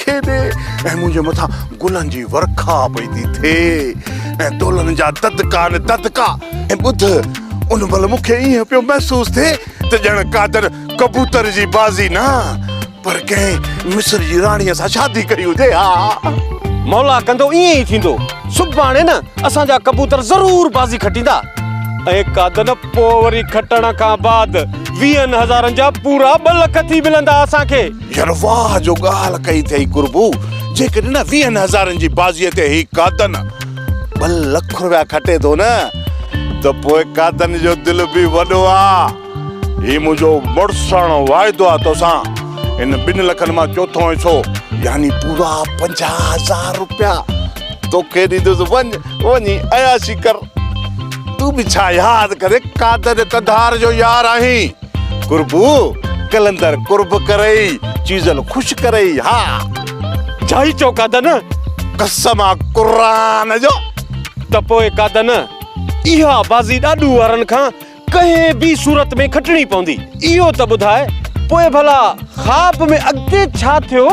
کي ڏي ۽ منهنجي مٿان گلن جي ورکا پئي ٿي ٿئي ۽ دولن جا ددڪا نه ددڪا ۽ ٻڌ ان مهل مون کي ائين پيو محسوس ٿئي ته ڄڻ قادر ڪبوتر جي بازي نه پر ڪنهن مصر جي راڻيء سان شادي ڪئي هجي ها مولا ڪندو ائين ئي ٿيندو سڀاڻي نه اسان جا ڪبوتر ضرور بازي کٽيندا ۽ قادر پوء وري کٽڻ کان بعد ويهن هزارن جا پورا ٻه لک ٿي ملندا اسان کي يار واهه جو ڳالهه ڪئي ٿئي قربو، جيڪڏهن نه ويهن هزارن جي بازيء تي هي قادن ٻه لک روپيا کٽي ٿو نه ته پوء قادن جو دل به وڏو آ. هي منهنجو مڙساڻو واعدو آ توسان، ان ٻن لکن مان چوٿون حصو يعني پورا پنجاهه هزار روپيا توکي ڏيندس وڃ وڃي عياشي ڪر. تون به ڇا ياد ڪري قادن قنڌار جو يار آهين. قربو قلندر قرب ڪرئي چيزل خوش ڪرئي ها جائي چو قادن قسم آ قرآن جو ته پوء قادن اها بازي ڏاڏو وارن کان ڪنهن به صورت ۾ کٽڻي پوندي اهو ته ٻڌاء پوء ڀلا خواب ۾ اڳتي ڇا ٿيو؟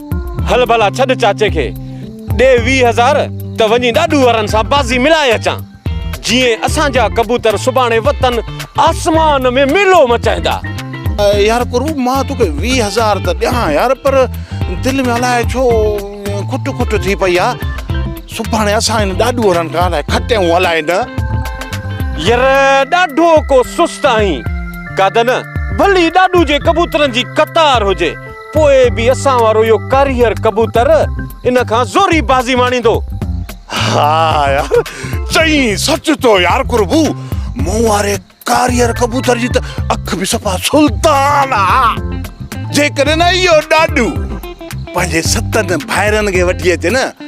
هل ڀلا ڇڏ چاچي کي، ڏي ويهه هزار ته وڃي ڏاڏو وارن سان بازي ملائي اچان، جيئن اسان جا ڪبوتر سڀاڻي وتن آسمان ۾ ميلو مچائيندا. يار قرب مان توکي ويهه هزار ته ڏيان يار پر دل ۾ الائي ڇو کٽ کٽ ٿي پئي آ، سڀاڻي اسان هن ڏاڏو وارن کان الائي کٽيون الائي نه. ير ڏاڍو ڪو سست آهين، قادن ڀلي ڏاڏو جي ڪبوترن جي قطار هجي، پوء به اسان وارو اهو ڪاريهر ڪبوتر ان کان زوري بازي ماڻيندو. ها يار چئين سچ ٿو يار قربو مون واري ڪاريهر ڪبوتر جي ته اک به صفا سلطان آ. جيڪڏهن نه اهو ڏاڏو پنهنجي ستن ڀائرن کي وٺي اچي نه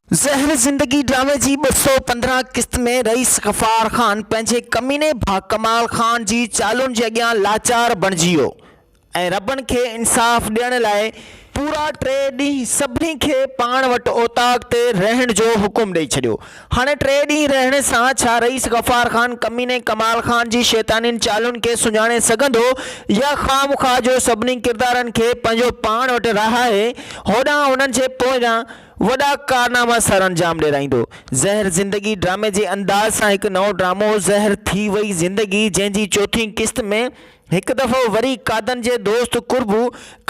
زهر زندگي ڊرامي جي ٻه سؤ پندرهن قسط ۾ رئيس غفار خان پنهنجي ڪميني ڀاء ڪمال خان جي چالون جي اڳيان لاچار بڻجي ويو ۽ ربن کي انصاف ڏيڻ لاء پورا ٽي ڏينهن سڀني کي پاڻ وٽ اوطاق تي رهڻ جو حڪم ڏئي ڇڏيو. هاڻي ٽي ڏينهن رهڻ سان ڇا رئيس غفار خان ڪميني ڪمال خان جي شيطانين چالون کي سڃاڻي سگهندو يا خامخواه جو سڀني ڪردارن کي پنهنجو پاڻ وٽ رهائي هوڏانهن انهن جي پوئيان وڏا ڪارناما سرانجام ڏيرائيندو. زهر زندگي ڊرامي جي انداز سان هڪ نئون ڊرامو زهر ٿي وئي زندگي جنهن جي چوٿين قسط ۾ هڪ دفعو وري قادن جي دوست قربو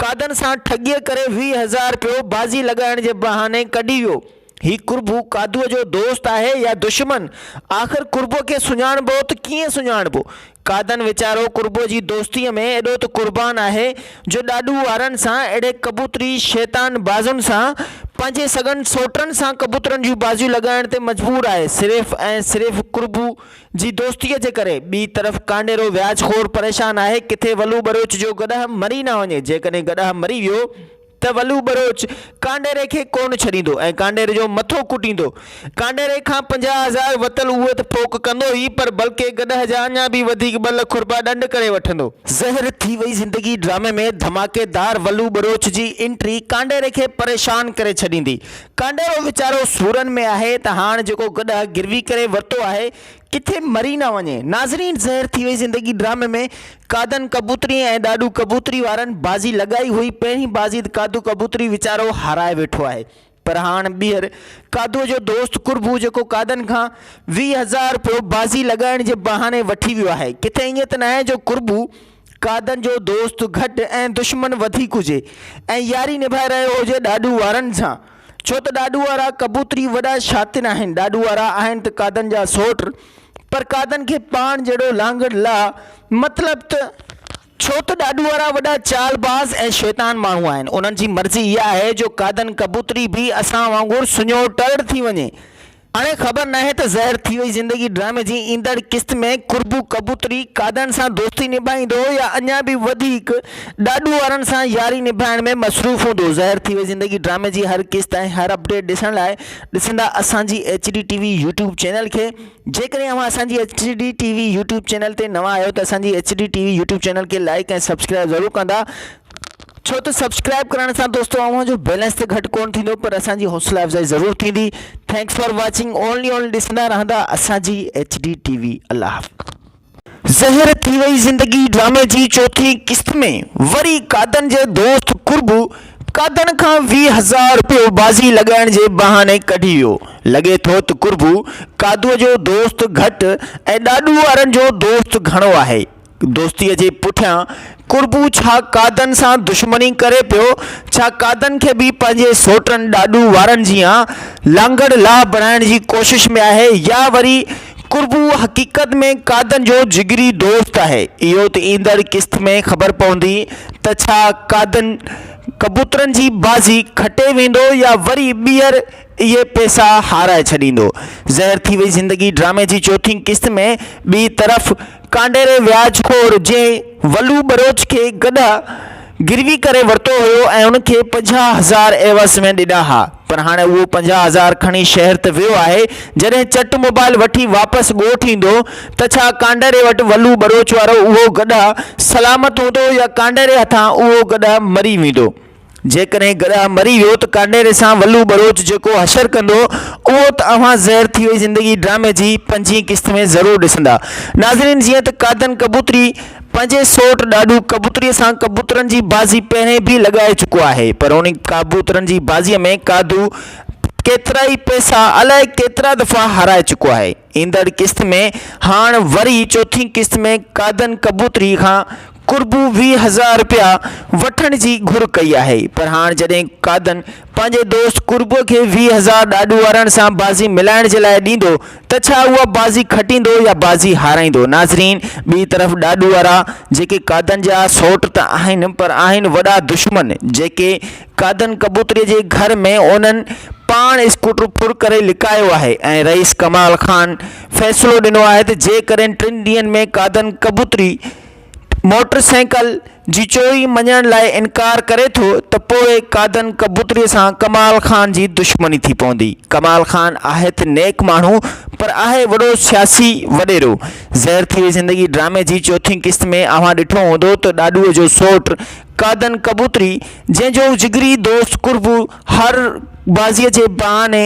قادن سان ٺڳيء ڪري ويهه هزار رپيو بازي لڳائڻ جي بهاني ڪڍي ويو. هي قربو قادوء جو دوست آهي يا دشمن؟ آخر قربوء کي سڃاڻبو ته ڪيئن سڃاڻبو؟ قادن ويچارو قربو جي دوستيء ۾ ايڏو ته قربان آهي جو ڏاڏو وارن سان اهڙي ڪبوتري شيطان بازن سان پنهنجي سڳن سوٽن سان ڪبوترن جون بازيون لڳائڻ تي مجبور آهي صرف ۽ صرف قربو جي دوستيء جي ڪري. ٻي طرف ڪانڊيرو وياج خور پريشان آهي ڪٿي ولو ٻروچ جو گڏهه مري نه وڃي جيڪڏهن گڏهه مري ويو ته ولو ٻروچ ڪانڊيري کي ڪونه ڇڏيندو ۽ ڪانڊيري جو مٿو ڪٽيندو. ڪانڊيري کان پنجاهه هزار وتل اهو ته ڦوڪ ڪندو ئي پر بلڪه گڏهه جا اڃا به وڌيڪ ٻه لک رپيا ڏنڊ ڪري وٺندو. زهر ٿي وئي زندگي ڊرامي ۾ ڌماڪيدار ولو ٻروچ جي انٽري ڪانڊيري کي پريشان ڪري ڇڏيندي. ڪانڊيرو ويچارو سورن ۾ آهي ته هاڻ جيڪو گڏهه گروي ڪري ورتو آهي ڪٿي مري نه وڃي. ناظرين زهر ٿي وئي زندگي ڊرامي ۾ قادن ڪبوتري ۽ ڏاڏو ڪبوتري وارن بازي لڳائي هئي پهرين بازي ته قادو ڪبوتري ويچارو هارائي ويٺو آهي پر هاڻ ٻيهر قادو جو دوست قربو جيڪو قادن کان ويهه هزار رپيو بازي لڳائڻ جي بهاني وٺي ويو آهي ڪٿي ائين ته ناهي جو قربو قائدن جو دوست گهٽ ۽ دشمن وڌيڪ هجي ۽ ياري نڀائي رهيو هجي ڏاڏو وارن سان، ڇو ته ڏاڏو وارا ڪبوتري وڏا شاطر آهن، ڏاڏو وارا آهن ته قائدن جا سوٽ، پر قائدن کي پاڻ جهڙو لانگڙ لا مطلب ته، ڇو ته ڏاڏو وارا وڏا چال باز ۽ شيطان ماڻهو آهن، انهن جي مرضي اها آهي جو قائدن ڪبوتري به اسان وانگر سڃوٽڙ ٿي وڃي، اڙي خبر ناهي ته زهر ٿي وئي زندگي ڊرامي جي ايندڙ قسط ۾ قربو ڪبوتري قادن سان دوستي نڀائيندو يا اڃا به وڌيڪ ڏاڏو وارن سان ياري نڀائڻ ۾ مصروف هوندو زهر ٿي وئي زندگي ڊرامي جي هر قسط ۽ هر اپڊيٽ ڏسڻ لاء ڏسندا اسان جي H D T V YouTube channel کي جيڪڏهن اوهان اسان جي H D T V YouTube channel تي نوان آهيو ته اسان جي H D T V YouTube channel کي لائيڪ ۽ سبسڪرائيب ضرور ڪندا ڇو ته سبسڪرائب ڪرڻ سان دوستو اوهان جو بيلنس ته گهٽ ڪون ٿيندو پر اسان جي حوصلا افزائي ضرور ٿيندي thanks for watching only only ڏسندا رهندا اسان جي ايڇ ڊي ٽي وي الله حافظ. زهر ٿي وئي زندگي ڊرامي جي چوٿين قسط ۾ وري قادن جي دوست قربو قادن کان ويهه هزار رپيو بازي لڳائڻ جي بهاني ڪڍي ويو لڳي ٿو ته قربو قادو جو دوست گهٽ ۽ ڏاڏو وارن جو دوست گهڻو آهي. دوستيء جي پٺيان قربو ڇا قادن سان دشمني ڪري پيو؟ ڇا قادن کي به پنهنجي سوٽن ڏاڏو وارن جيان لانگڙ لاء بڻائڻ جي ڪوشش ۾ آهي يا وري قربو حقيقت ۾ قادن جو جگري دوست آهي؟ اهو ته ايندڙ قسط ۾ خبر پوندي ته ڇا قادن ڪبوترن جي بازي کٽي ويندو يا وري ٻيهر اهي پيسا هارائي ڇڏيندو. زهر ٿي وئي زندگي ڊرامي جي چوٿين قسط ۾ ٻي طرف ڪانڊيري وياج خور جنهن ولو ٻروچ کي گڏهه گروي ڪري ورتو هيو ۽ ان کي پنجاهه هزار عيوض ۾ ڏنا ها پر هاڻي اهو پنجاهه هزار کڻي شهر ته ويو آهي جڏهن چٽ موبائل وٺي واپس ڳوٺ ايندو ته ڇا ڪانڊيري وٽ ولو ٻروچ وارو اهو گڏهه سلامت هوندو يا ڪانڊيري هٿان اهو گڏهه مري ويندو. جيڪڏهن گڏهه مري ويو ته ڪانڊيري سان ولو ٻروچ جيڪو حشر ڪندو اهو ته اوهان زهر ٿي وئي زندگي ڊرامي جي پنجين قسط ۾ ضرور ڏسندا ناظرين جيئن ته قادن ڪبوتري پنهنجي سوٽ ڏاڏو ڪبوتري سان ڪبوترن جي بازي پهرين به لڳائي چڪو آهي پر انهي ڪابوترن جي بازي ۾ قادو ڪيترائي پئسا الائي ڪيترا دفعا هارائي چڪو آهي ايندڙ قسط ۾ هاڻ وري چوٿين قسط ۾ قادن ڪبوتري کان قربو ويهه هزار رپيا وٺڻ جي گهر ڪئي آهي پر هاڻ جڏهن قادن پنهنجي دوست قربوء کي ويهه هزار ڏاڏو وارن سان بازي ملائڻ جي لاء ڏيندو ته ڇا اها بازي کٽيندو يا بازي هارائيندو ناظرين ٻي طرف ڏاڏو وارا جيڪي قادن جا سئوٽ ته آهن پر آهن وڏا دشمن جيڪي قادن ڪبوتري جي گهر ۾ انهن پاڻ اسڪوٽر ڦر ڪري لڪايو آهي ۽ رئيس ڪمال خان فيصلو ڏنو آهي ته جيڪڏهن ٽن ڏينهن ۾ قادن ڪبوتري موٽر سائيڪل جي چوري مڃڻ لاء انڪار ڪري ٿو ته پوء قادن ڪبوتري سان ڪمال خان جي دشمني ٿي پوندي. ڪمال خان آهي ته نيڪ ماڻهو پر آهي وڏو سياسي وڏيرو. زهر ٿي وئي زندگي ڊرامي جي چوٿين قسط ۾ اوهان ڏٺو هوندو ته ڏاڏوء جو سؤٽ قادن ڪبوتري جنهن جو جگري دوست قربو هر بازيء جي بهاني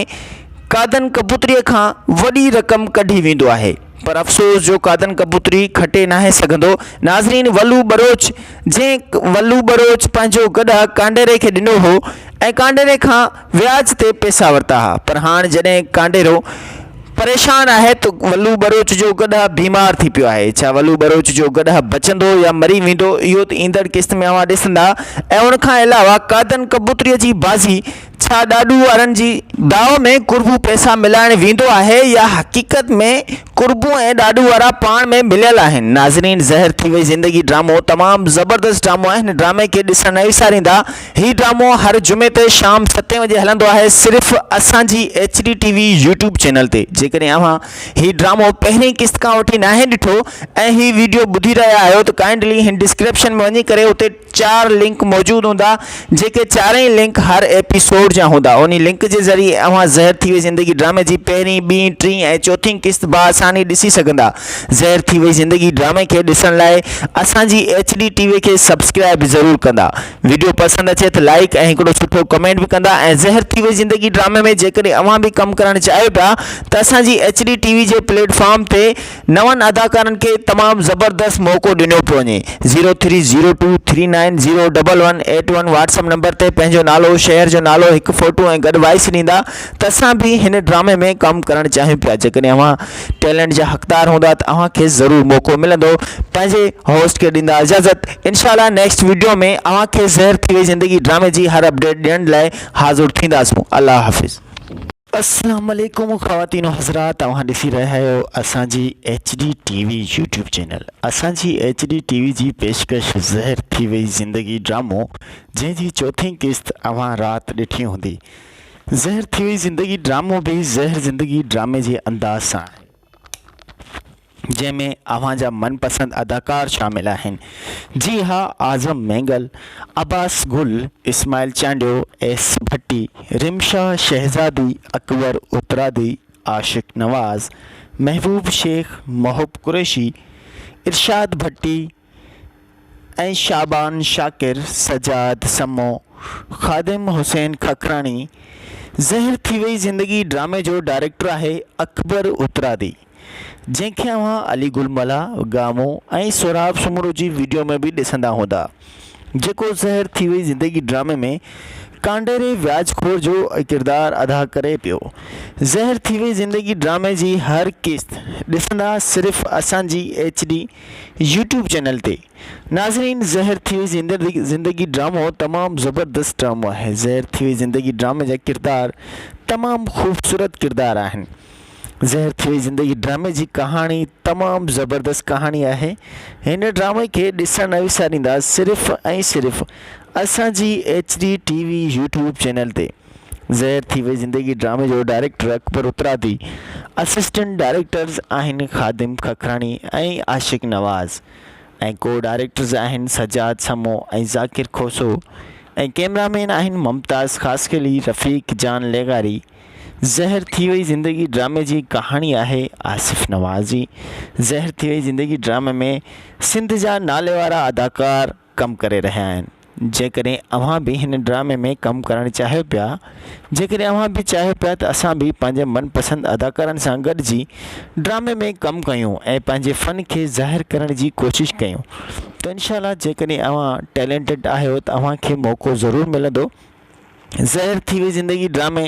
قادن ڪبوتري کان وڏي رقم ڪڍي ويندو آهي. پر افسوس جو قادن ڪبوتري کٽي ناهي سگهندو. ناظرين ولو ٻروچ جنهن ولو ٻروچ پنهنجو گڏهه ڪانڊيري کي ڏنو هو ۽ ڪانڊيري کان وياج تي پئسا ورتا ها پر هاڻ جڏهن ڪانڊيرو پريشان آهي ته ولو ٻروچ جو گڏهه بيمار ٿي پيو آهي ڇا ولو ٻروچ جو گڏهه بچندو يا مري ويندو اهو ته ايندڙ قسط ۾ اوهان ڏسندا ۽ ان کان علاوه قادن ڪبوتري جي بازي ڇا ڏاڏو وارن جي داء ۾ قربو پئسا ملائڻ ويندو آهي يا حقيقت ۾ قربو ۽ ڏاڏو وارا پاڻ ۾ مليل آهن ناظرين زهر ٿي وئي زندگي ڊرامو تمام زبردست ڊرامو آهي هن ڊرامي کي ڏسڻ نه وساريندا هي ڊرامو هر جمعي تي شام ستين وڄي هلندو آهي صرف اسان جي H D T V YouTube channel تي جيڪڏهن اوهان هي ڊرامو پهرين قسط کان وٺي ناهي ڏٺو ۽ هي ويڊيو ٻڌي رهيا آهيو ته ڪائنڊلي هن ڊسڪريپشن ۾ وڃي ڪري اتي چار لنڪ موجود هوندا جيڪي چارئي لنڪ هر ايپيسوڊ جا هوندا انهي لنڪ جي ذريعي اوهان زهر ٿي وئي زندگي ڊرامي جي پهرين ٻين ٽين ۽ چوٿين قسط بآساني ڏسي سگهندا زهر ٿي وئي زندگي ڊرامي کي ڏسڻ لاء اسان جي ايڇ ڊي ٽي وي کي سبسڪرائب ضرور ڪندا ويڊيو پسند اچي ته لائيڪ ۽ هڪڙو سٺو ڪمينٽ به ڪندا ۽ زهر ٿي وئي زندگي ڊرامي ۾ جيڪڏهن اوهان به ڪم ڪرڻ چاهيو ٿا ته اسان جي ايڇ ڊي ٽي وي جي پليٽ فارم تي نون اداڪارن کي تمام زبردست موقعو ڏنو پيو وڃي zero three zero two three nine zero double one eight one WhatsApp number تي پنهنجو نالو شهر جو نالو هڪ فوٽو ۽ گڏ وائس ڏيندا ته اسان به هن ڊرامي ۾ ڪم ڪرڻ چاهيون پيا جيڪڏهن اوهان ٽيلنٽ جا حقدار هوندا ته اوهان کي ضرور موقعو ملندو پنهنجي هوسٽ کي ڏيندا اجازت انشاء الله نيڪسٽ وڊيو ۾ اوهان کي زهر ٿي وئي زندگي ڊرامي جي هر اپڊيٽ ڏيڻ لاء حاضر ٿينداسون الله حافظ. اسلام عليڪم خواتين و حضرات اوهان ڏسي رهيا آهيو اسان جي H D T V YouTube channel اسان جي ايڇ ڊي ٽي وي جي پيشڪش زهر ٿي وئي زندگي ڊرامو جنهن جي چوٿين قسط اوهان رات ڏٺي هوندي زهر ٿي وئي زندگي ڊرامو به زهر زندگي ڊرامي جي انداز سان آهي. جنهن ۾ اوهان جا من پسند اداڪار شامل آهن جي ها اعظم مينگل، عباس گل، اسماعيل چانڊيو، ايس ڀٽي، رمشا شهزادي، اڪبر اترادي، عاشق نواز، محبوب شيخ، محب قريشي، ارشاد ڀٽي، ۽ شعبان شاڪر، سجاد سمو، خادم حسين ککراڻي، زهر ٿي وئي زندگي ڊرامي جو ڊائريڪٽر آهي اڪبر اترادي جنهن کي اوهان علي گل ملاح، گامو ۽ سهراب سومرو جي وڊيو ۾ به ڏسندا هوندا جيڪو زهر ٿي وئي زندگي ڊرامي ۾ ڪانڊيري وياج خور جو ڪردار ادا ڪري پيو زهر ٿي وئي زندگي ڊرامي جي هر قسط ڏسندا صرف اسان جي ايڇ ڊي يوٽيوب چينل تي. ناظرين زهر ٿي وئي زندگي ڊرامو تمام زبردست ڊرامو آهي زهر ٿي وئي زندگي ڊرامي جا ڪردار تمام خوبصورت ڪردار آهن زهر ٿي وئي زندگي ڊرامي جي ڪهاڻي تمام زبردست ڪهاڻي آهي هن ڊرامي کي ڏسڻ نه وساريندا صرف ۽ صرف اسان جي H D T V YouTube channel تي. زهر ٿي وئي زندگي ڊرامي جو director Akbar Utradi assistant directors آهن خادم ککراڻي ۽ عاشق نواز ۽ ڪو ڊائريڪٽرز آهن سجاد سمو ۽ ذاڪر کوسو ۽ ڪيمرا مين آهن ممتاز خاصخيلي رفيق جان لغاري زهر ٿي وئي زندگي ڊرامي جي ڪهاڻي آهي آصف نواز جي زهر ٿي وئي زندگي ڊرامي ۾ سنڌ جا ناليوارا اداڪار ڪم ڪري رهيا آهن جيڪڏهن اوهان به هن ڊرامي ۾ ڪم ڪرڻ چاهيو پيا جيڪڏهن اوهان به چاهيو پيا ته اسان به پنهنجي من پسند اداڪارن سان گڏجي ڊرامي ۾ ڪم ڪيون ۽ پنهنجي فن کي ظاهر ڪرڻ جي ڪوشش ڪيون ته انشاء الله جيڪڏهن اوهان ٽيلينٽيڊ آهيو ته اوهان کي موقعو ضرور ملندو ظاهر ٿي وئي زندگي ڊرامي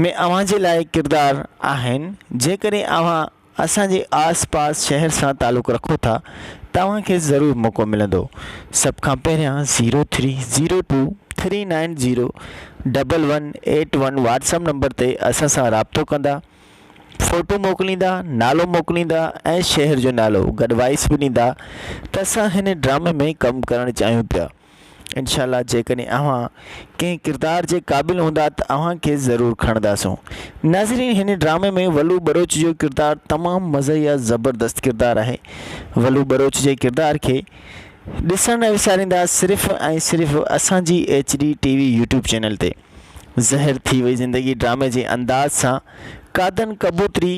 ۾ اوهان جي لاء ڪردار آهن جيڪڏهن اوهان اسان جي آس پاس شهر سان تعلق رکو ٿا توهان کي ضرور موقعو ملندو سڀ کان پهريان zero three zero two three nine zero double one eight one WhatsApp number تي اسان سان رابطو ڪندا فوٽو موڪليندا نالو موڪليندا ۽ شهر جو نالو گڏ وائس به ڏيندا ته اسان هن ڊرامي ۾ ڪم ڪرڻ چاهيون پيا انشاء الله جيڪڏهن اوهان ڪنهن ڪردار جي قابل هوندا ته اوهان کي ضرور کڻنداسون ناظرين هن ڊرامي ۾ ولو بروچ جو ڪردار تمام مزهيه زبردست ڪردار آهي ولو بروچ جي ڪردار کي ڏسڻ نه وساريندا صرف ۽ صرف اسان جي H D T V YouTube channel تي زهر ٿي وئي زندگي ڊرامي جي انداز سان قادن ڪبوتري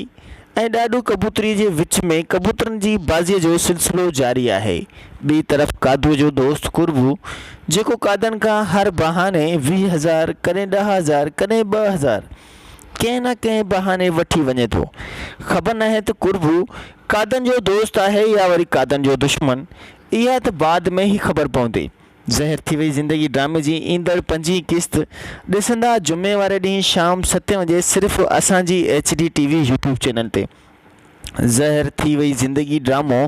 ۽ ڏاڏو ڪبوتري جي وچ ۾ ڪبوترن جي بازي جو سلسلو جاري آهي ٻي طرف قادو جو دوست قربو جيڪو قادن کان هر بهاني ويهه هزار ڪڏهن ڏهه هزار ڪڏهن ٻه هزار ڪنهن نه ڪنهن بهاني وٺي وڃي ٿو خبر ناهي ته قربو قادن جو دوست آهي يا وري قادن جو دشمن اها ته بعد ۾ ئي خبر پوندي زهر ٿي وئي زندگي ڊرامي جي ايندڙ پنجين قسط ڏسندا جمعي واري ڏينهن شام ستين وڄي صرف اسان جي H D T V YouTube channel تي زهر ٿي وئي زندگي ڊرامو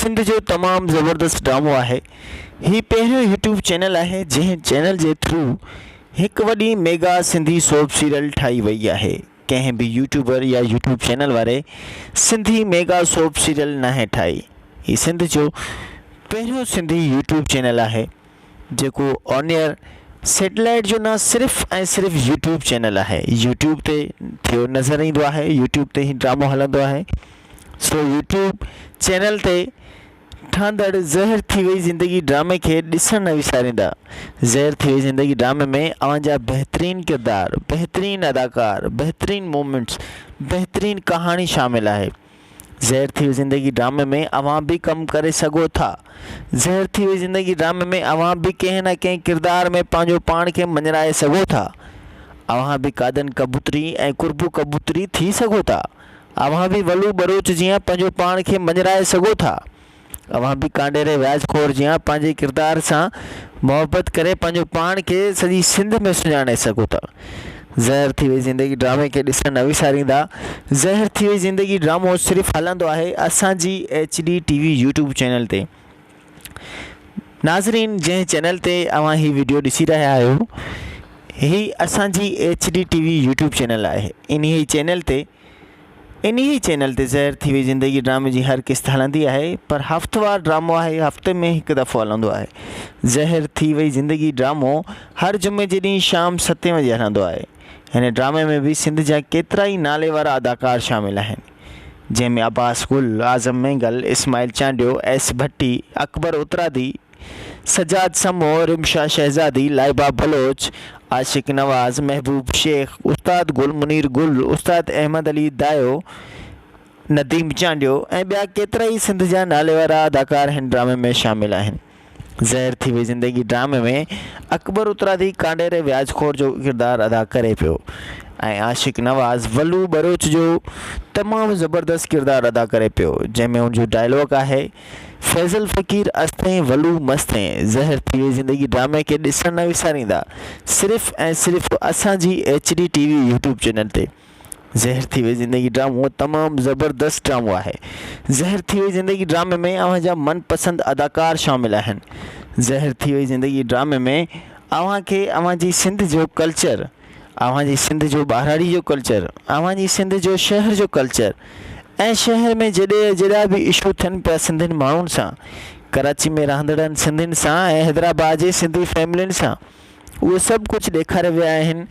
سنڌ جو تمام زبردست ڊرامو آهي هي پهريون يوٽيوب چينل آهي جنهن چينل جي ٿرو هڪ وڏي ميگا سنڌي سوپ سيريل ٺاهي وئي آهي. ڪنهن به يوٽيوبر يا يوٽيوب چينل واري سنڌي ميگا سوپ سيريل ناهي ٺاهي هي سنڌ جو پهريون سنڌي يوٽيوب چينل آهي جيڪو آن ايئر سيٽلائيٽ جو نه صرف ۽ صرف يوٽيوب چينل آهي يوٽيوب تي ٿيو نظر ايندو آهي يوٽيوب تي هي ڊرامو هلندو آهي سو يوٽيوب چينل تي ٺهندڙ زهر ٿي وئي زندگي ڊرامي کي ڏسڻ نه وساريندا زهر ٿي وئي زندگي ڊرامي ۾ اوهان جا بهترين ڪردار بهترين اداڪار بهترين مومينٽس بهترين ڪهاڻي شامل آهي زهر ٿي وئي زندگي ڊرامي ۾ اوهان به ڪم ڪري سگهو ٿا زهر ٿي وئي زندگي ڊرامي ۾ اوهان به ڪنهن نه ڪنهن ڪردار ۾ پنهنجو پاڻ کي مڃرائي سگهو ٿا اوهان به قادن ڪبوتري ۽ قربو ڪبوتري ٿي سگهو ٿا اوهان به ولو ٻروچ جيان پنهنجو پاڻ کي مڃرائي سگهو ٿا. اوهان به ڪانڊيري وياج خور جيان پنهنجي ڪردار سان محبت ڪري پنهنجو پاڻ کي سڄي سنڌ ۾ سڃاڻي سگهو ٿا. زهر ٿي وئي زندگي ڊرامي کي ڏسڻ نه وساريندا. زهر ٿي وئي زندگي ڊرامو صرف هلندو آهي اسان جي H D T V YouTube channel تي. ناظرين جنهن چينل تي اوهان هي ويڊيو ڏسي رهيا آهيو هي اسان جي H D T V YouTube channel آهي انهي چينل تي انهي چينل تي زهر ٿي وئي زندگي ڊرامي جي هر قسط هلندي آهي پر هفتوار ڊرامو آهي هفتي ۾ هڪ دفعو هلندو آهي زهر ٿي وئي زندگي ڊرامو هر جمعي جي ڏينهن شام ستين وڄي هلندو آهي هن ڊرامي ۾ به سنڌ جا ڪيترا ئي ناليوارا اداڪار شامل آهن جنهن ۾ عباس گل، اعظم مينگل، اسماعيل چانڊيو، ايس ڀٽي، اڪبر اترادي، سجاد سمون، رمشا شهزادي، لائبه بلوچ، عاشق نواز، محبوب شيخ، استاد گل منير گل، استاد احمد علي دايو، نديم چانڊيو ۽ ٻيا ڪيترائي سنڌ جا ناليوارا اداڪار هن ڊرامي ۾ شامل آهن. زهر ٿي وئي زندگي ڊرامي ۾ اڪبر اترادي ڪانڊيري وياج خور جو ڪردار ادا ڪري پيو ۽ عاشق نواز ولو ٻروچ جو تمام زبردست ڪردار ادا ڪري پيو جنهن ۾ ان جو ڊائلاگ آهي فيضل فقير استين ولو مستين زهر ٿي وئي زندگي ڊرامي کي ڏسڻ نه وساريندا صرف ۽ صرف اسان جي H D T V YouTube channel تي زهر ٿي وئي زندگي ڊرامو تمام زبردست ڊرامو آهي زهر ٿي وئي زندگي ڊرامي ۾ اوهان جا من پسند اداڪار شامل آهن زهر ٿي وئي زندگي ڊرامي ۾ اوهان کي اوهان جي سنڌ جو ڪلچر اوهان جي سنڌ جو ٻهراڙي جو ڪلچر اوهان جي سنڌ جو شهر جو ڪلچر ۽ شهر ۾ جڏي جهڙا به اشو ٿين پيا سنڌين ماڻهن سان ڪراچي ۾ رهندڙن سنڌين سان ۽ حيدرآباد جي سنڌي فيملين سان اهي سڀ ڪجهه ڏيکاريا ويا آهن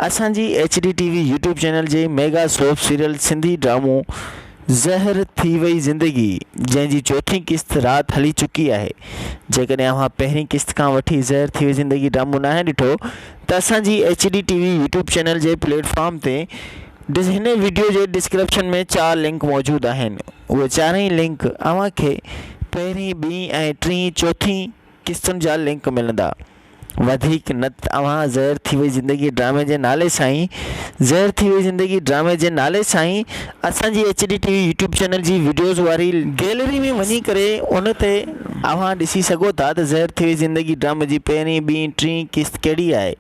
اسان جي H D T V YouTube channel جي ميگا سوپ سيريل سنڌي ڊرامو زهر ٿي وئي زندگي جنهن جي چوٿين قسط رات هلي چڪي آهي جيڪڏهن اوهان پهرين قسط کان وٺي زهر ٿي وئي زندگي ڊرامو ناهي ڏٺو ته اسان جي H D T V YouTube channel جي پليٽ فارم تي هن ويڊيو جي ڊسڪرپشن ۾ چار لنڪ موجود آهن اهي چارئي لنڪ اوهان کي پهرين ٻين ۽ ٽين چوٿين قسطن جا لنڪ ملندا وڌيڪ نه ته اوهان زهر ٿي وئي زندگي ڊرامي جي نالي سائين زهر ٿي وئي زندگي ڊرامي جي نالي سائين اسان جي H D T V YouTube channel جي وڊيوز واري گيلري ۾ وڃي ڪري ان تي اوهان ڏسي سگهو ٿا ته زهر ٿي وئي زندگي ڊرامي جي پهرين ٻين ٽين قسط ڪهڙي آهي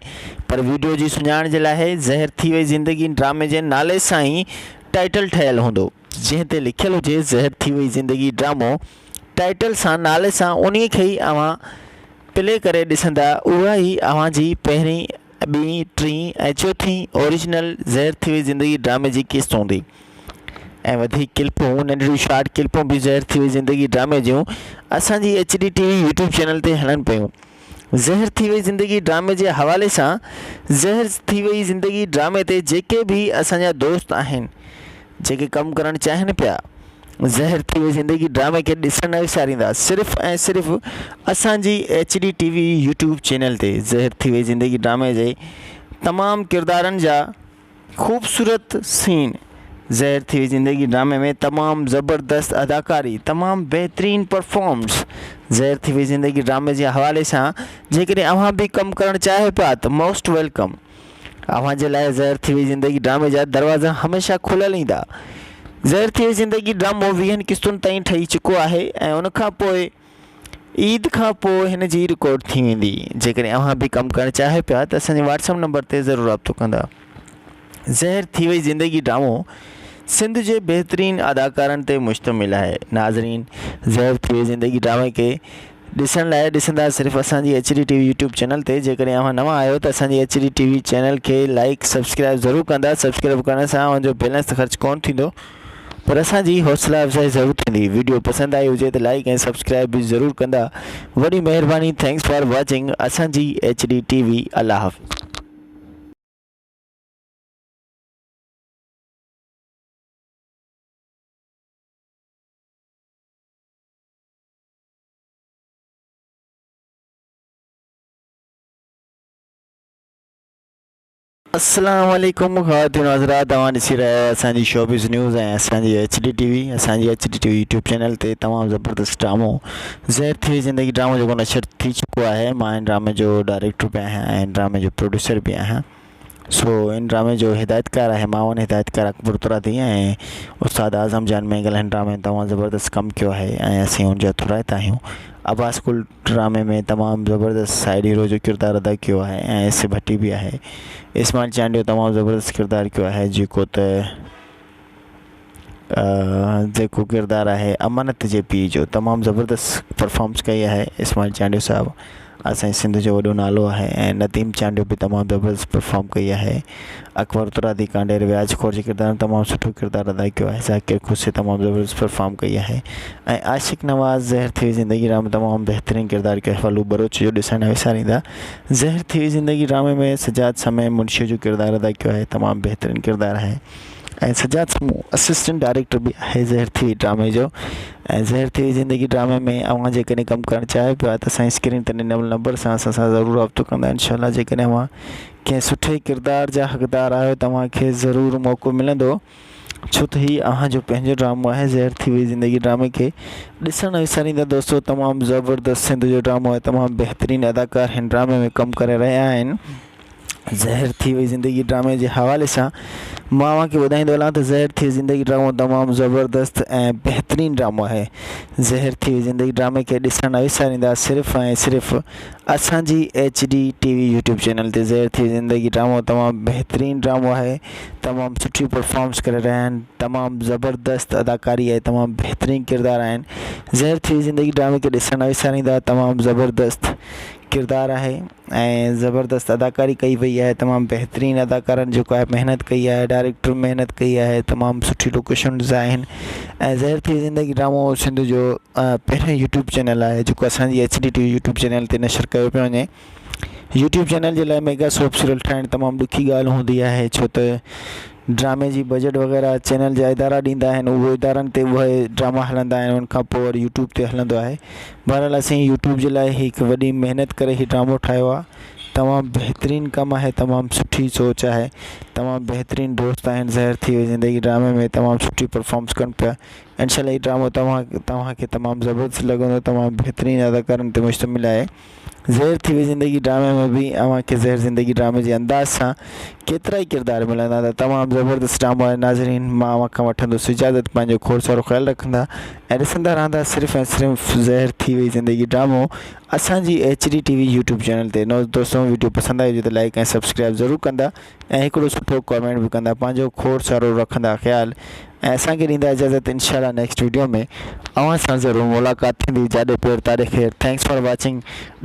پر وڊيو جي سڃاڻ جي لاهي زهر ٿي وئي زندگي ڊرامي جي نالي سائين ٽائيٽل ٺهيل هوندو. جنهن تي لکيل هجي زهر ٿي وئي زندگي ڊرامو ٽائيٽل سان نالي سان انهي کي ئي اوهان پلي ڪري ڏسندا اها هي اوهان جي پهرين ٻي ٽي ۽ چوٿين اوريجنل زهر ٿي وئي زندگي ڊرامي جي قسط هوندي ۽ وڌيڪ ڪلپون ننڍڙيون شارٽ ڪلپون به زهر ٿي وئي زندگي ڊرامي جون اسان جي H D T V YouTube channel تي هلن پيون زهر ٿي وئي زندگي ڊرامي جي حوالي سان زهر ٿي وئي زندگي ڊرامي تي جيڪي به اسان جا دوست آهن جيڪي ڪم ڪرڻ چاهين پيا. زهر ٿي وئي زندگي ڊرامي کي ڏسڻ نه وساريندا صرف ۽ صرف اسان جي H D T V YouTube channel تي زهر ٿي وئي زندگي ڊرامي جي تمام ڪردارن جا خوبصورت سين زهر ٿي وئي زندگي ڊرامي ۾ تمام زبردست اداڪاري تمام بهترين پرفارمنس زهر ٿي وئي زندگي ڊرامي جي حوالي سان جيڪڏهن اوهان به ڪم ڪرڻ چاهيو پيا ته موسٽ ويلڪم. اوهان جي لاء زهر ٿي وئي زندگي ڊرامي جا دروازا هميشه کليل ايندا. زهر ٿي وئي زندگي ڊرامو ويهن قسطن تائين ٺهي چڪو آهي ۽ ان کان پوء عيد کان پوء هن جي رڪارڊ ٿي ويندي. جيڪڏهن اوهان به ڪم ڪرڻ چاهيو پيا ته اسان جي واٽس اپ نمبر تي ضرور رابطو ڪندا. زهر ٿي وئي زندگي ڊرامو سنڌ جي بهترين اداڪارن تي مشتمل آهي. ناظرين زهر ٿي وئي زندگي ڊرامي کي ڏسڻ لاء ڏسندا صرف اسان جي H D T V YouTube channel تي جيڪڏهن اوهان نوان آهيو ته اسان جي H D T V channel کي لائيڪ سبسڪرائيب ضرور ڪندا سبسڪرائيب ڪرڻ سان اوهان جو بيلنس ته خرچ ڪونه ٿيندو پر اسان جي حوصلا افزائي ضرور ٿيندي ويڊيو پسند آئي هجي ته لائيڪ ۽ سبسڪرائيب به ضرور ڪندا وڏي مهرباني ٿينڪس فار واچنگ اسان جي ايڇ ڊي ٽي وي الله حافظ. السلام عليڪم خواتين و حضرات اوهان ڏسي رهيا آهيو اسان جي شوبيز نيوز ۽ اسان جي ايچ ڊي ٽي وي اسان جي H D T V YouTube channel تي تمام زبردست ڊرامو زهر ٿي وئي زندگي ڊرامو جيڪو نشر ٿي چڪو آهي مان هن ڊرامي جو ڊائريڪٽر به آهيان ۽ هن ڊرامي جو پروڊيوسر به آهيان سو ان ڊرامي جو هدايتڪار آهي معاون هدايتڪار اڪبر ترابي ۽ استاد اعظم جان مينگل هن ڊرامي ۾ تمام زبردست ڪم ڪيو آهي ۽ اسين ان جا ٿورائتا آهيون عباس گل ڊرامي ۾ تمام زبردست سائيڊ هيرو جو ڪردار ادا ڪيو آهي ۽ ايس اي ڀٽي به آهي اسماعيل چانڊيو تمام زبردست ڪردار ڪيو آهي جيڪو ته جيڪو ڪردار آهي امانت جي پي جو تمام زبردست پرفامنس ڪئي آهي اسماعيل چانڊيو صاحب اسان جي سنڌ جو وڏو نالو آهي ۽ نديم چانڊيو به تمام زبردست پرفام ڪئي آهي اڪبر ترادي ڪانڊير وياج خور جي ڪردار ۾ تمام سٺو ڪردار ادا ڪيو آهي ذاڪر کوسي تمام زبردست پرفام ڪئي آهي ۽ عاشق نواز زهر ٿي وئي زندگي ڊرامي تمام بهترين ڪردار ڪيو ڦلو ٻروچ جو ڏسڻ نه وساريندا زهر ٿي وئي زندگي ڊرامي ۾ سجاد سمي منشي جو ڪردار ادا ڪيو آهي تمام بهترين ڪردار آهي ۽ سجاد سمون اسسٽنٽ ڊائريڪٽر به آهي زهر ٿي وئي ڊرامي جو ۽ زهر ٿي وئي زندگي ڊرامي ۾ اوهان جيڪڏهن ڪم ڪرڻ چاهيو پيا ته اسان جي اسڪرين تي ڏنل نمبر سان اسان سان ضرور رابطو ڪندا انشاء الله جيڪڏهن اوهان ڪنهن سٺي ڪردار جا حقدار آهيو ته اوهان کي ضرور موقعو ملندو ڇو ته هي اوهان جو پنهنجو ڊرامو آهي زهر ٿي وئي زندگي ڊرامي کي ڏسڻ نه وساريندا دوستو تمام زبردست سنڌ جو ڊرامو آهي تمام بهترين اداڪار هن ڊرامي ۾ ڪم ڪري رهيا آهن زهر ٿي وئي زندگي ڊرامي جي حوالي سان مان اوهان کي ٻڌائيندو هلان ته زهر ٿي وئي زندگي ڊرامو تمام زبردست ۽ بهترين ڊرامو آهي زهر ٿي وئي زندگي ڊرامي کي ڏسڻ نه وساريندا صرف ۽ صرف اسانجي H D T V YouTube channel تي زهر ٿي وئي زندگي ڊرامو تمام بهترين ڊرامو آهي تمام سٺيون پرفارمنس ڪري رهيا آهن تمام زبردست اداڪاري آهي تمام بهترين ڪردار آهن زهر ٿي وئي زندگي ڊرامي کي ڏسڻ نه وساريندا تمام زبردست ڪردار آهي ۽ زبردست اداڪاري ڪئي وئي آهي تمام بهترين اداڪارن جيڪو آهي محنت ڪئي آهي ڊائريڪٽر محنت ڪئي آهي تمام سٺي لوڪيشنز آهن ۽ زهر ٿي زندگي ڊرامو سنڌ جو پهريون يوٽيوب چينل آهي جيڪو اسانجي H D T V YouTube channel تي نشر ڪيو پيو وڃي يوٽيوب چينل جي لاء ميگا سوپ سيريل ٺاهڻ تمام ڏکي ڳالهه هوندي آهي ڇو ته ڊرامي جي بجيٽ وغيره چينل جا ادارا ڏيندا آهن اهو ادارن تي اهي ڊراما هلندا آهن ان کان پوء وري يوٽيوب تي هلندو آهي بهرحال اسين يوٽيوب جي لاء هڪ وڏي محنت ڪري هي ڊرامو ٺاهيو آهي تمام بهترين ڪم آهي تمام سٺي سوچ آهي تمام بهترين دوست آهن زهر ٿي وئي زندگي ڊرامي ۾ تمام سٺي پرفامس ڪن پيا انشاء الله هي ڊرامو توهان توهان کي تمام زبردست لڳندو تمام بهترين اداڪارن تي مشتمل آهي زهر ٿي وئي زندگي ڊرامي ۾ به اوهان کي زهر زندگي ڊرامي جي انداز سان ڪيترا ئي ڪردار ملندا ته تمام زبردست ڊرامو آهي ناظرين مان اوهان کان وٺندس اجازت پنهنجو کوڙ سارو خيال رکندا ۽ ڏسندا رهندا صرف ۽ صرف زهر ٿي وئي زندگي ڊرامو اسان جي H D T V YouTube channel تي نوز دوستو ويڊيو پسند آئي هجي ته لائڪ ۽ سبسڪرائب ضرور ڪندا ۽ هڪڙو سٺو ڪمينٽ به ڪندا پنهنجو کوڙ سارو رکندا خيال ۽ اسان کي ڏيندا اجازت انشاء الله نيڪسٽ ويڊيو ۾ اوهان سان ضرور ملاقات ٿيندي جاڏي پير تاڏي خير ٿينڪس فار واچنگ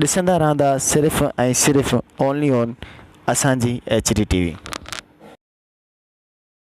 ڏسندا رهندا صرف ۽ صرف اونلي اون اسان جي ايچ ڊي ٽي وي.